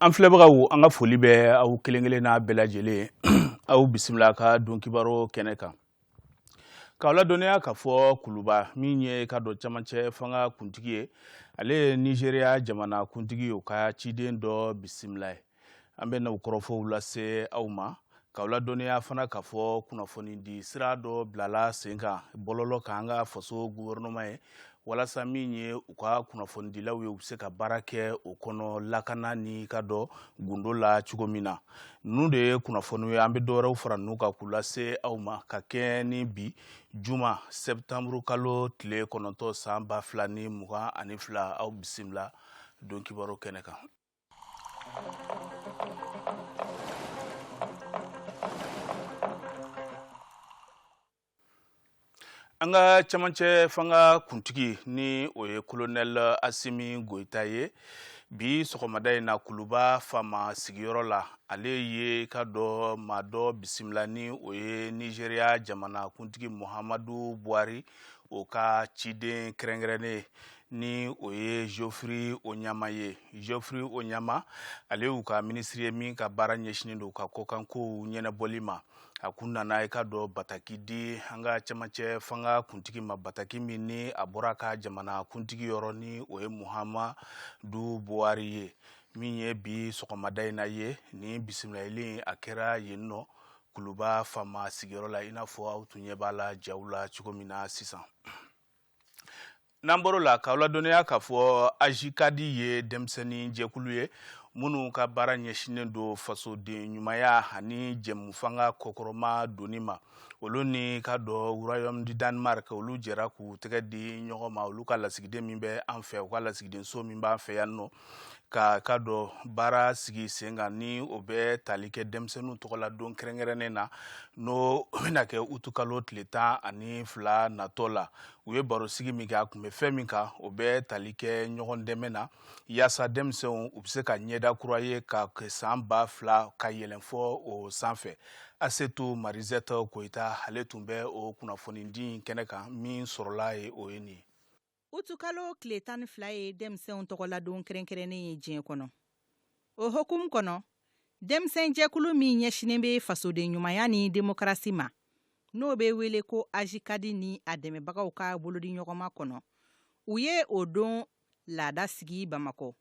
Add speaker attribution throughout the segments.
Speaker 1: an filɛbagaw an ka foli bɛ aw kelen kelen n'a bɛɛ lajɛlen aw bisimila ka don kibaro kɛnɛ kan k'aw ladɔnniya k'a fɔ kuluba min ye ka dɔ camancɛ fanga kuntigi ye ale ye nizeriya jamana kuntigi ye o ka ciden dɔ bisimila ye an bɛ na o kɔrɔfɔw lase aw ma K'aw ladɔnniya fana k'a fɔ kunnafoni di sira dɔ bilala sen kan bɔlɔlɔ kan an ka faso gouvernement ye walasa min ye u ka kunnafonidilaw ye u bɛ se ka baara kɛ o kɔnɔ lakana ni ka dɔ gundo la cogo min na ninnu de ye kunnafoni ye an bɛ dɔ wɛrɛw fara ninnu kan k'u lase aw ma ka kɛ ni bi juma sɛtanburukalo tile kɔnɔntɔn san ba fila ni mugan ani fila aw bisimila don kibaru kɛnɛ kan an ka camancɛ fanga kuntigi ni o ye kolonɛl asimi goyita ye bi sɔgɔmada in na kuluba faama sigiyɔrɔ la ale ye ka dɔ maa dɔ bisimila ni o ye nizeriya jamana kuntigi muhamadu buhari o ka ciden kɛrɛnkɛrɛnnen ni o ye geoffrey onyama ye geoffrey onyama ale y'u ka minisiri ye min ka baara ɲɛsinnen don ka kɔkankow ɲɛnɛbɔli ma a kun nana i ka dɔ bataki di an ka camancɛ fanga kuntigi ma bataki min ni a bɔra ka jamana kuntigi yɔrɔ ni o ye muhamadu buhari ye min ye bi sɔgɔmada in na ye ni bisimilali a kɛra yen nɔ kuluba faama sigiyɔrɔ la i n'a fɔ aw tun ɲɛ b'a la jaw la cogo min na sisan n'an bɔr'o la k'aw ladɔnniya k'a fɔ ajikadi ye denmisɛnnin jɛkulu ye minnu ka baara ɲɛsinnen don fasoden ɲumanya ani jɛmufanga kɔkɔrɔma donni ma olu ni ka dɔ royaume du danemark olu jɛra k'u tɛgɛ di ɲɔgɔn ma olu ka lasigiden min bɛ an fɛ u ka lasigidenso min b'an fɛ yan nɔ ka ka dɔ baara sigi sen kan ni o bɛ tali kɛ denmisɛnninw tɔgɔladon kɛrɛnkɛrɛnnen na n'o bɛna kɛ utukalo tile tan ani fila natɔ la u ye baro sigi min kɛ a kun bɛ fɛn min kan o bɛ tali kɛ ɲɔgɔn dɛmɛ na yaasa denmisɛnw u bɛ se ka ɲɛda kura ye ka kɛ san ba fila ka yɛlɛn fɔ o sanfɛ asetu marizɛtɔ koyita ale tun bɛ o kunnafonidi kɛnɛ kan min sɔrɔla ye o ye nin ye
Speaker 2: utukalo tile tan ni fila ye denmisɛnw tɔgɔladon kɛrɛnkɛrɛnnen ye diɲɛ kɔnɔ o hukumu kɔnɔ denmisɛnjɛkulu min ɲɛsinnen bɛ fasoden ɲumanya ni demokarasi ma n'o bɛ wele ko ajikadi ni a dɛmɛbagaw ka bolodiɲɔgɔnma kɔnɔ u ye o don laada sigi bamakɔ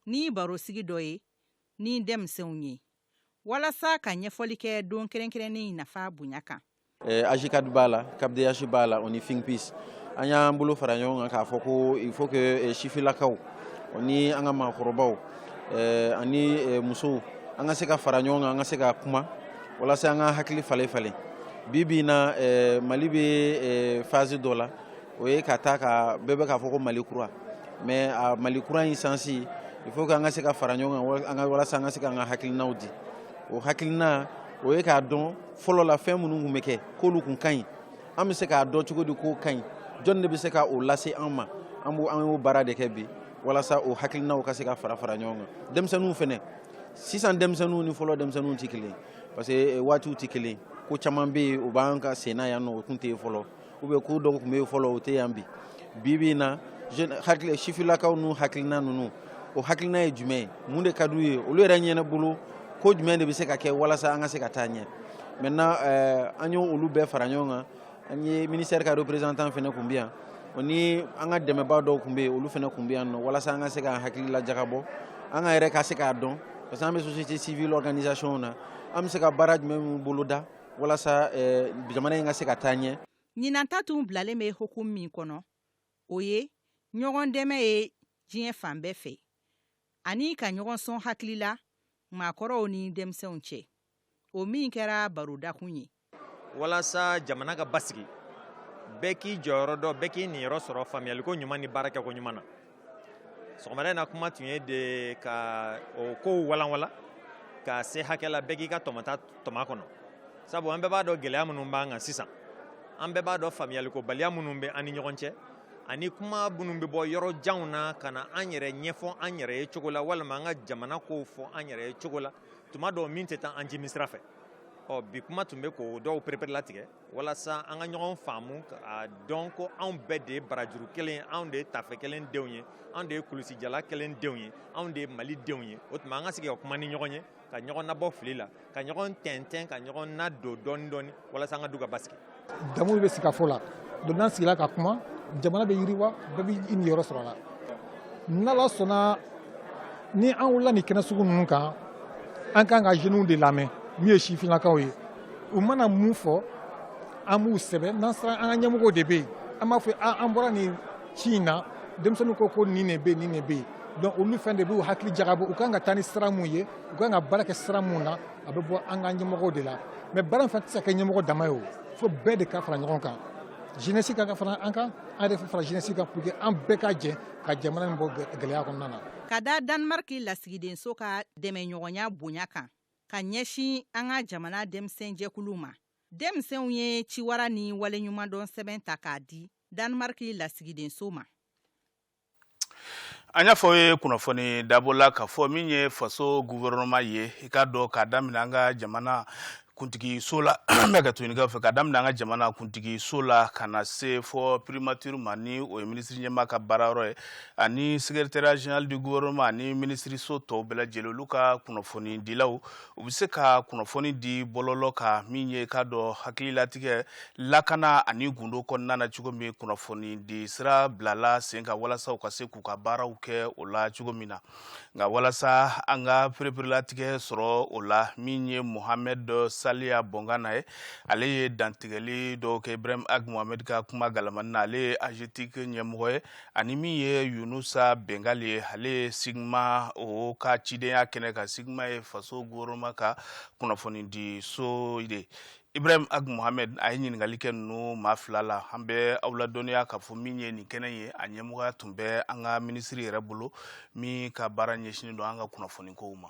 Speaker 2: ni barosigi dɔ ye ni denmisɛnw ye walasa ka ɲɛfɔli kɛ don kɛrɛnkɛrɛnnen nafa bonya kan eh, ajcad
Speaker 3: b'a la capdh b'a la o ni think peace an y'an bolo fara ɲɔgɔn kan k'a fɔ ko il faut que eh, sifilakaw o ni an ka maakɔrɔbaw eh, ani musow an ka se ka fara ɲɔgɔn kan an ka se ka kuma walasa an ka hakili falen falen bi bi na mali bɛ phase dɔ la o ye ka taa ka bɛɛ bɛ k'a fɔ ko mali kura mais a mali kura in sansi il faut k'an ka se ka fara ɲɔgɔn kan walasa an ka se k'an ka hakilinaw di o hakilina o ye k'a dɔn fɔlɔ la fɛn minnu kun bɛ kɛ k'olu kun ka ɲi an bɛ se k'a dɔn cogo di k'o ka ɲi jɔn de bɛ se ka o lase an ma an y'o baara de kɛ bi walasa o hakilinaw ka se ka fara fara ɲɔgɔn kan denmisɛnninw fɛnɛ sisan denmisɛnninw ni fɔlɔ denmisɛnninw tɛ kelen parce que eh, waatiw tɛ kelen ko caman bɛ yen o b'an ka senna yan nɔ o tun tɛ yen fɔlɔ ou bien ko dɔw kun bɛ fɔlɔ o tɛ yan bi bi bi in na sifilakaw n'u hakilina ninnu o hakilina ye jumɛn ye mun de ka d'u ye olu yɛrɛ ɲɛna bolo ko jumɛn de bɛ se ka kɛ walasa an ka se ka taa ɲɛ maintenant euh, an y'o olu bɛɛ fara ɲɔgɔn kan an ye ministère ka représentant fɛnɛ kun bɛ yan o ni an ka dɛmɛbaa dɔw kun bɛ yen olu fɛnɛ kun bɛ yan nɔ walasa an ka se k'an hakili lajagabɔ an ka yɛrɛ ka se k'a dɔn parce que an bɛ société civile organisation na an bɛ se ka baara jumɛn min boloda walasa jamana in ka se ka taa ɲɛ ɲinan ta
Speaker 2: tun bilalen bɛ hukumu min kɔnɔ o ye ɲɔgɔn dɛmɛ ye diɲɛ fan bɛɛ fɛ ani ka ɲɔgɔn sɔn hakili la maakɔrɔw ni denmisɛnw cɛ o min kɛra barodakun ye
Speaker 4: walasa jamana ka basigi bɛɛ k'i jɔyɔrɔ dɔn bɛɛ k'i niyɔrɔ sɔrɔ faamuyaliko ɲuman ni baarakɛko ɲuman na sɔgɔmada in na kuma tun ye de ka o kow walanwala ka se hakɛ la bɛɛ k'i ka tɔmɔta tɔmɔ a kɔnɔ sabu an bɛɛ b'a dɔn gɛlɛya minnu b'an kan sisan an bɛɛ b'a dɔn faamuyalikobaliya minnu bɛ an ni ɲɔgɔn cɛ ani kuma minnu bɛ bɔ yɔrɔ janw na ka na an yɛrɛ ɲɛfɔ an yɛrɛ ye cogo la walima an ka jamana kow fɔ an yɛrɛ ye cogo la tuma dɔw min tɛ taa an jimisira fɛ ɔ bi kuma tun bɛ k'o dɔw pereperelatigɛ walasa an ka ɲɔgɔn faamu k'a dɔn ko anw bɛɛ de ye barajuru kelen ye anw de ye tafe kelen denw ye anw de ye kulusijala kelen denw ye anw de ye mali denw ye o tuma an ka sigi ka kuma ni ɲɔgɔn ye ka ɲɔgɔn nabɔ fili la ka ɲɔgɔn tɛntɛn ka ɲɔgɔn nadon dɔɔni dɔɔni walasa an ka du ka basigi damu bɛ
Speaker 5: sigikafɔ la donc n'an sigila ka kuma jamana bɛ yiriwa bɛɛ bɛ i niyɔrɔ sɔrɔ a la n'ala sɔnna ni an wulila nin kɛnɛ sugu ninnu kan an kan ka jeunes de lamɛn min ye sifinnakaw ye u mana mun fɔ an b'u sɛbɛn n'an sera an ka ɲɛmɔgɔw de bɛ yen an b'a fɔ an bɔra nin ci in na denmisɛnninw ko ko nin de bɛ yen nin de bɛ yen donc olu fɛnɛ de b'u hakili jagabɔ u kan ka taa ni sira mun ye u kan ka baara kɛ sira mun na a bɛ bɔ an ka ɲɛmɔgɔw de la mais baara in fana tɛ se ka kɛ ɲɛmɔgɔ dama ye o fo bɛɛ de ka fara ɲɔgɔn kan jeunesse kan ka fara an kan an yɛrɛ fara jeunesse kan pour que an bɛɛ ka jɛ ka jamana in bɔ gɛlɛya kɔnɔna na ka da danemark
Speaker 2: lasigidenso ka dɛmɛɲɔgɔnya bonya kan ka ɲɛsin an ka jamana denmisɛnjɛkulu ma denmisɛnw ye ciwara ni waleɲumandɔn sɛbɛn ta k'a di Danemark lasigidenso ma
Speaker 1: an y'a fɔ ye kunnafoni dabɔ la k'a fɔ min ye faso gouvernement ye i k'a dɔn k'a daminɛ an ka jamana kuntigi so la bɛ ka tukaw fɛ ka daminɛ an ka jamana kuntigi so la ka na se fɔ primature ma ni o ye minisiri ɲɛmaa ka baara yɔrɔ ye ani secrétariat général du gouvernement ani minisiriso tɔw bɛɛ lajɛlen olu ka kunnafoni dilaw u bɛ se ka kunnafoni di bɔlɔlɔ kan min ye k'a dɔn hakililatigɛ lakana ani gundo kɔnɔna na cogo min kunnafoni di sira bilala sen kan walasa u ka se k'u ka baaraw kɛ o la cogo min na nka walasa an ka pereperelatigɛ sɔrɔ o la min ye mohamɛd saliya bɔnkana ye ale ye dantigɛli dɔw kɛ ibrahim ag mohamɛd ka kuma galamani na ale ye AGETIC ɲɛmɔgɔ ye ani min ye yunusa bengali ye ale ye CIGMA o ka cidenya kɛnɛ kan CIGMA ye faso gouvernement ka kunnafoni di so de ibrahim ag mohamed a ye ɲininkali kɛ ninnu maa fila la an bɛ aw ladɔnniya k'a fɔ min ye nin kɛnɛ ye a ɲɛmɔgɔya tun bɛ an ka minisiri yɛrɛ bolo min ka baara ɲɛsinin don an ka kunnafoni kow ma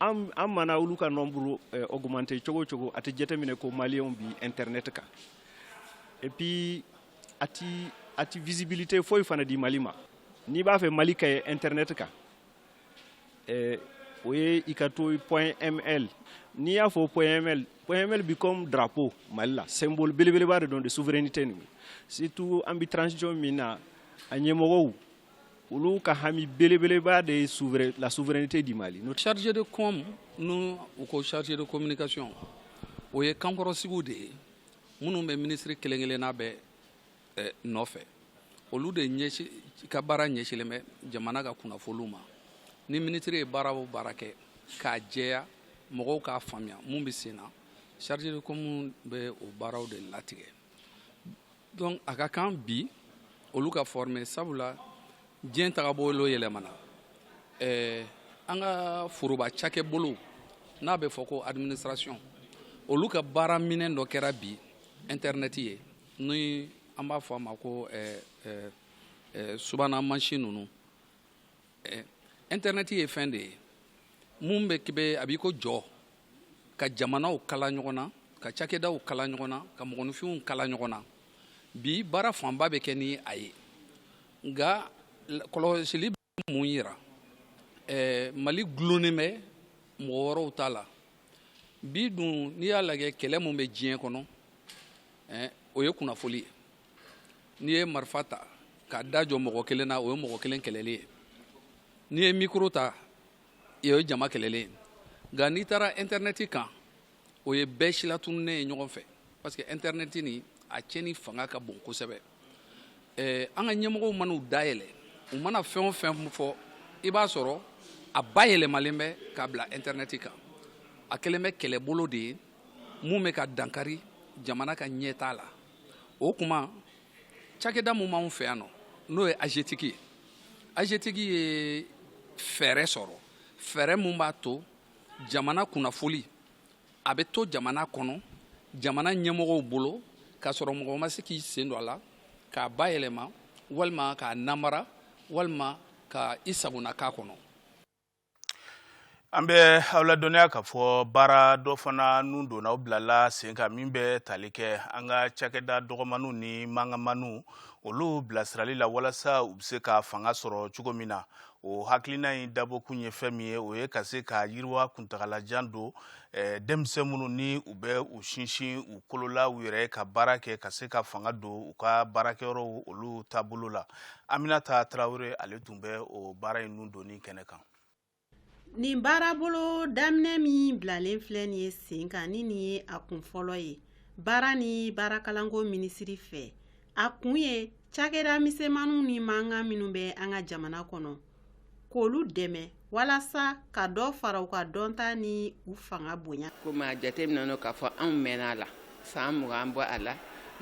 Speaker 6: an mana olu ka nombre augmenter cogo o cogo a tɛ jateminɛ ko maliyɛnw bi internet kan et puis a a tɛ visibilité foyi fana di mali ma n'i b'a fɛ mali ka ye internet kan o ye i ka to point ml n'i y'a fɔ point ml point ml bɛ comme drapeau mali la symbole belebeleba de don de souveraineté ni surtout an bɛ transition min na a ɲɛmɔgɔw olu ka hami belebeleba de ye la souveraineté du Mali chargé de
Speaker 7: com ni u ko chargé de communication o ye kankɔrɔsigiw de ye minnu bɛ minisiri kelen kelenna bɛɛ eh, nɔfɛ olu de ɲɛsi ka baara ɲɛsilen bɛ jamana ka kunnafoliw ma ni minisiri ye baara o baara kɛ k'a jɛya mɔgɔw k'a faamuya mun bɛ sen na chargé de com bɛ o baaraw de latigɛ Donc a ka kan bi olu ka former sabula diɲɛ tagabolo yɛlɛmana ɛɛ an ka foroba cakɛbolow n'a bɛ fɔ ko administration olu ka baara minɛn dɔ kɛra bi internet ye n'o an b'a fɔ a ma ko subahana masin ninnu Internet ye fɛn de ye min bɛ kibe a b'i ko jɔ ka jamanaw kala ɲɔgɔn na ka cakɛdaw kala ɲɔgɔn na ka mɔgɔninfinw kala ɲɔgɔn na bi baara fanba bɛ kɛ ni a ye nka kɔlɔsili bɛ mun jira mali dulonnen bɛ mɔgɔ wɛrɛw ta la bi dun n'i y'a lajɛ kɛlɛ min bɛ diɲɛ kɔnɔ o ye kunnafoli ye n'i ye marifa ta k'a da jɔ mɔgɔ kelen na o ye mɔgɔ kelen kɛlɛli ye n'i ye mikoro ta o ye jama kɛlɛli ye nka n'i taara intɛrɛnɛti kan o ye bɛɛ silatununnen ye ɲɔgɔn fɛ parce que intɛrɛnɛti nin a cɛni fanga ka bon kosɛbɛ ɛɛ an ka ɲɛmɔgɔw man'u dayɛlɛ u mana fɛn o fɛn fɔ i b'a sɔrɔ a bayɛlɛmalen bɛ k'a bila intɛrɛnɛti kan a kɛlen bɛ kɛlɛbolo de ye mun bɛ ka dankari jamana ka ɲɛtaa la o tuma cakɛda min b'anw fɛ yan nɔ n'o ye AGETIC ye AGETIC ye fɛɛrɛ sɔrɔ fɛɛrɛ min b'a to jamana kunnafoli a bɛ to jamana kɔnɔ jamana ɲɛmɔgɔw bolo k'a sɔrɔ mɔgɔ ma se k'i sen don a la k'a bayɛlɛma walima k'a namara walima ka i sagona k'a kɔnɔ
Speaker 1: an bɛ aw ladɔnniya k'a fɔ baara dɔ fana nun donna o bilala sen kan min bɛ tali kɛ an ka cakɛda dɔgɔmaniw ni mankanmaniw olu bilasirali la walasa u bɛ se ka fanga sɔrɔ cogo min na o hakilina in dabɔkun ye fɛn min ye o ye ka se ka yiriwa kuntagalajan don eh, denmisɛn minnu ni u bɛ u sinsin u kolo la u yɛrɛ ka baara kɛ ka se ka fanga don u ka baarakɛyɔrɔw olu taabolo la aminata tarawele ale tun bɛ o baara in nun donni kɛnɛ kan
Speaker 8: nin baarabolo daminɛ min bilalen filɛ nin ye sen kan ni nin ye a kun fɔlɔ ye baara ni baarakalanko minisiri fɛ a kun ye cakɛda misɛnmaninw ni mankan minnu bɛ an ka jamana kɔnɔ k'olu dɛmɛ walasa ka dɔ fara u ka dɔnta ni u fanga bonya komi a jateminɛna
Speaker 9: k'a fɔ anw mɛnna a la san mugan bɔ a la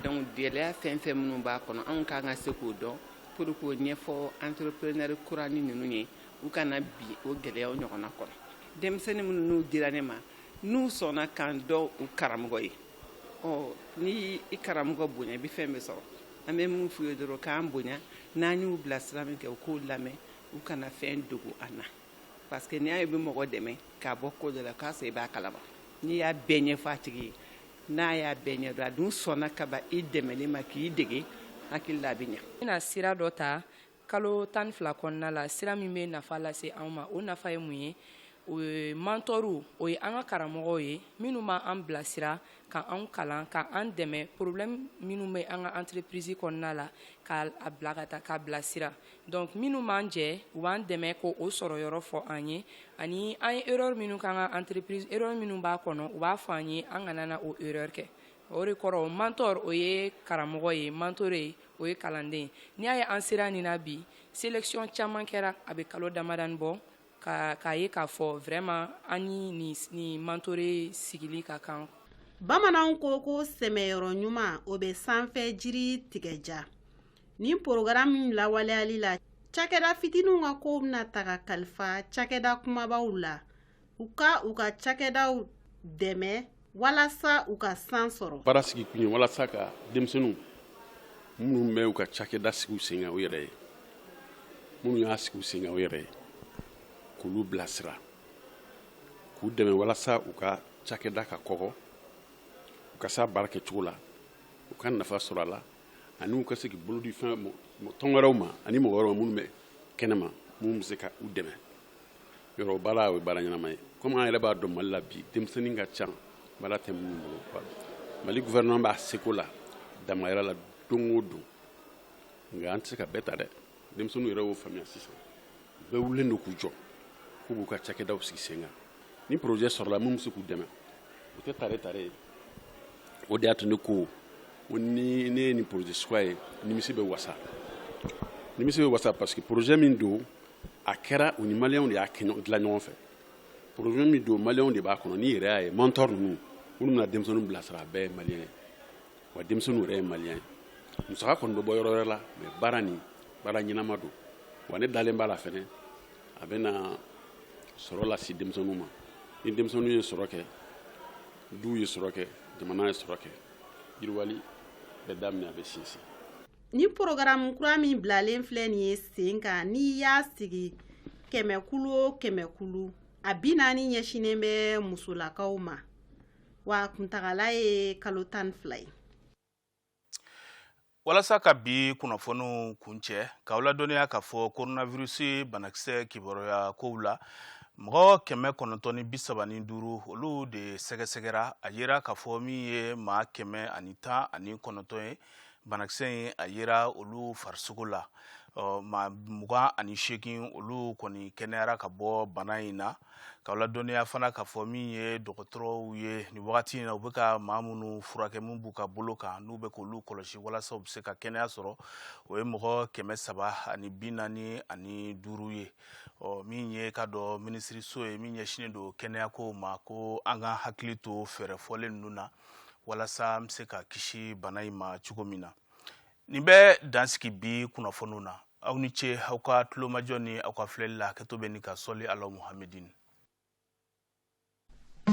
Speaker 9: donc gɛlɛya fɛn fɛn minnu b'a kɔnɔ anw kan ka se k'o dɔn pour k'o ɲɛfɔ entrepreneur kuranin ninnu ye u kana bin o gɛlɛyaw ɲɔgɔnna kɔnɔ denmisɛnnin minnu n'u dira ne ma n'u sɔnna k'an dɔn u karamɔgɔ ye ni i karamɔgɔ bonya i bɛ fɛn bɛɛ sɔrɔ an bɛ min f'u ye dɔrɔn k'an bonya n'an y'u bila sira min kɛ u k'o lamɛn u kana fɛn dogo an na parce que n'i y'a ye i bɛ mɔgɔ dɛmɛ k'a bɔ ko dɔ la k'a sɔrɔ i b'a kalama n'i y'a bɛɛ ɲɛfɔ a tigi ye n'a y'a bɛɛ ɲɛdɔn a dun sɔnna ka ban i dɛmɛli ma k'i dege hakili la a bɛ ɲɛ n bɛna sira dɔ ta
Speaker 10: Kalo tan ni fila kɔnɔna la sira min bɛ nafa lase anw ma o nafa ye mun ye o ye mentorw o ye an ka karamɔgɔw ye minnu ma an bilasira ka an kalan ka an dɛmɛ problème minnu bɛ an ka entreprise kɔnɔna la k'a bila ka taa k'a bilasira donc minnu b'an jɛ u b'an dɛmɛ k'o sɔrɔyɔrɔ fɔ an ye ani an ye erreur minnu k'an ka entreprise erreur minnu b'a kɔnɔ u b'a fɔ an ye an kana na o erreur kɛ o de kɔrɔ mentor o ye karamɔgɔ ye mentoré o ye kalanden ye n'i y'a ye an sera nin na bi sélection caman kɛra a bɛ kalo damadanin bɔ k'a ye k'a fɔ vraiment an ni nin mentoré sigili ka kan bamananw
Speaker 8: ko ko sɛmɛyɔrɔ ɲuman o bɛ sanfɛ jiri tigɛ diya nin porogaramu lawaleyali la cakɛda fitininw ka kow bɛna taga kalifa cakɛda kumabaw la u ka u ka cakɛdaw dɛmɛ walasa u ka san sɔrɔ baara sigi kun ye
Speaker 11: walasa ka denmisɛnninw minnu bɛ u ka cakɛda sigi u sen kan u yɛrɛ ye minnu y'a sigi u sen kan u yɛrɛ ye k'olu bilasira k'u dɛmɛ walasa u ka cakɛda ka kɔgɔ u ka se a baara kɛcogo la u ka nafa sɔrɔ a la ani u ka se k'i bolo di fɛn tɔn wɛrɛw ma ani mɔgɔ wɛrɛw minnu bɛ kɛnɛma minnu bɛ se ka u dɛmɛ yɔrɔ baara o ye baara ɲɛnama ye komi an yɛrɛ b'a dɔn mali la bi denmisɛnnin ka ca baara tɛ minnu bolo mali gouvernement b'a seko la damayira la don o don nka an tɛ se ka bɛɛ ta dɛ denmisɛnninw yɛrɛ y'o faamuya sisan bɛɛ wulilen don k'u jɔ k'u b'u ka cakɛdaw sigi sen kan ni projet sɔrɔla min bɛ se k'u dɛmɛ o tɛ tare tare ye o de y'a to ne ko ko ni ne ye nin projet suguya ye nimisi bɛ wasa nimisi bɛ wasa parce que projet min don a kɛra u ni maliyɛnw de y'a dilan ɲɔgɔn fɛ projet min don maliyɛnw de b'a kɔnɔ n'i yɛrɛ y'a ye mentor ninnu minnu bɛna denmisɛnninw bilasira a bɛɛ ye maliyɛn ye wa denmisɛnninw yɛrɛ ye maliyɛn ye musaka kɔni bɛ bɔ yɔrɔ wɛrɛ la mais baara nin baara ɲɛnama don wa ne dalen b'a la fɛnɛ a bɛna sɔrɔ lase denmisɛnninw ma ni denmisɛnninw ye sɔrɔ kɛ duw ye sɔrɔ kɛ jamana ye sɔrɔ kɛ yiriwali bɛ daminɛ a bɛ sinsin nin
Speaker 8: porogaramu kura min bilalen filɛ nin ye sen kan n'i y'a sigi kɛmɛkulu o kɛmɛkulu a bi naani ɲɛsinnen bɛ musolakaw ma wa kuntagala ye kalo tan fila ye
Speaker 1: walasa ka bi kunnafoniw kuncɛ k'aw ladɔnniya k'a fɔ coronavirus banakisɛ kibaruya kow la mɔgɔ kɛmɛ kɔnɔntɔn ni bi saba ni duuru olu de sɛgɛsɛgɛra a yera k'a fɔ min ye maa kɛmɛ ani tan ani kɔnɔntɔn ye banakisɛ in a yera olu farisogo la ɔ maa mugan ani seegin olu kɔni kɛnɛyara ka bɔ bana in na k'aw ladɔnniya fana k'a fɔ min ye dɔgɔtɔrɔw ye nin wagati in na u bɛ ka maa minnu furakɛ min b'u ka bolo kan n'u bɛ k'olu kɔlɔsi walasa u bɛ se ka kɛnɛya sɔrɔ o ye mɔgɔ kɛmɛ saba ani bi naani ani duuru ye ɔ min ye ka dɔ minisiriso ye min ɲɛsinnen don kɛnɛyako ma ko an ka hakili to fɛɛrɛ fɔlen ninnu na walasa an bɛ se ka kisi bana in ma cogo min na nin bɛ dansigi bi kunnafoniw na aw ni ce aw ka tulomajɔ ni aw ka filɛli la hakɛto bɛ ni ka sɔli ala muhamɛdin